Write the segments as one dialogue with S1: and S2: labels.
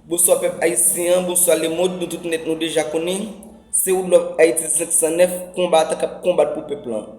S1: Bonswa pèp ayisyen an, bonswa lemond, nou tout nèt nou deja konnen, se Woodlove Haiti 509, konbatan kap konbat pou pèp lan.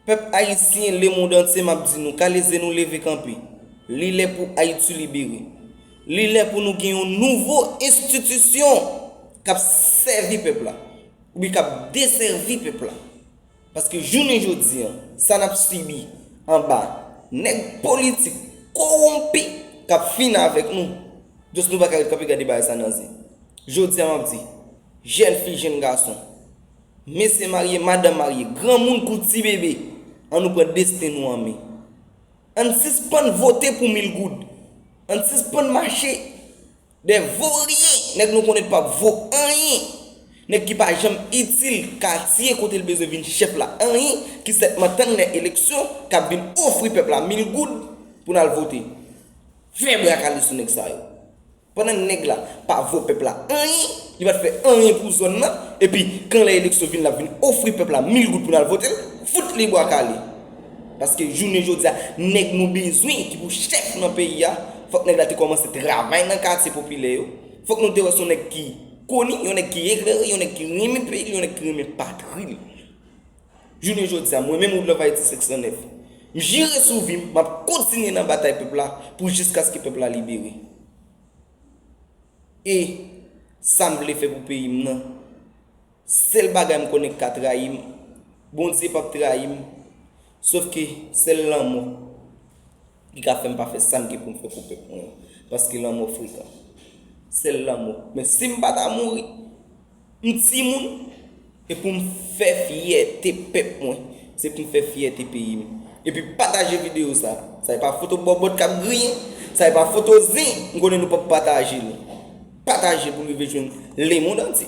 S1: Pèp ayisyen, lemond antye map di nou, kale ze nou leve kanpe. Li lè pou Ayiti libere. Li lè pou nou gen yon nouvo enstitisyon kap sèvi pèp la, oubyen kap desèvi pèp la. Paske jounen jodi an, sa n ap sibi anba nèg politik kowonpi k ap fin avèk nou, jòs nou pa ka ret kanpe gade bagay sa nan ze. Jodi a m ap di, jèn fi, jèn gason, mesye marye, madanm marye, granmoun kou ti bebe, an nou pran desten nou an men. An n sispann vote pou mil goud. An n sispann mache. Des vaurien nèg nou konnen pap vo anyen nèg ki pa janm itil katye kote l bezwen vin chèf la anyen ki sètman tann lè eleksyon kap vin ofri pèp la mil goud pou n al vote fè brakale sou nèg sa yo pandan nèg la pa vo pèp la anyen li pat fè anyen pou zòn nan epi kan lè eleksyon vin lap vin ofri pèp la mil goud pou n al vote l fout li bwa kale. Paske jounen jodi a, nèg nou bezwen ki pou chèf nan peyi a, fòk nèg la te kòmanse travay nan katye popilè yo. Fòk nou te wè se yon nèg ki koni, yon nèg ki eklere, yon nèg ki renmen peyi li, yon nèg ki renmen patri li. Jounen jodi a, mwen menm Wood Love Haïti 509, m jire sou vi m, m ap kontinye nan batay pèp la pou jiskaske pèp la libere. E sa m vle fè pou peyi m nan, Sèl bagay m konnen k ka trayi m, Bondye pap trayi m, sof ke sèl lanmò ki ka fè m pa fè sa m gen pou m fè pou pèp mwen an, paske lanmò frekan. Sèl lanmò. Men si m pa ta mouri, m timoun, e pou m fè fyète pèp mwen, se pou m fè fyète peyi m. Epi pataje videyo sa. Sa e pa foto bòbòt k ap griyen, sa e pa foto zen, m konnen nou pap pataje l. Pataje pou l rive jwenn lemond antye.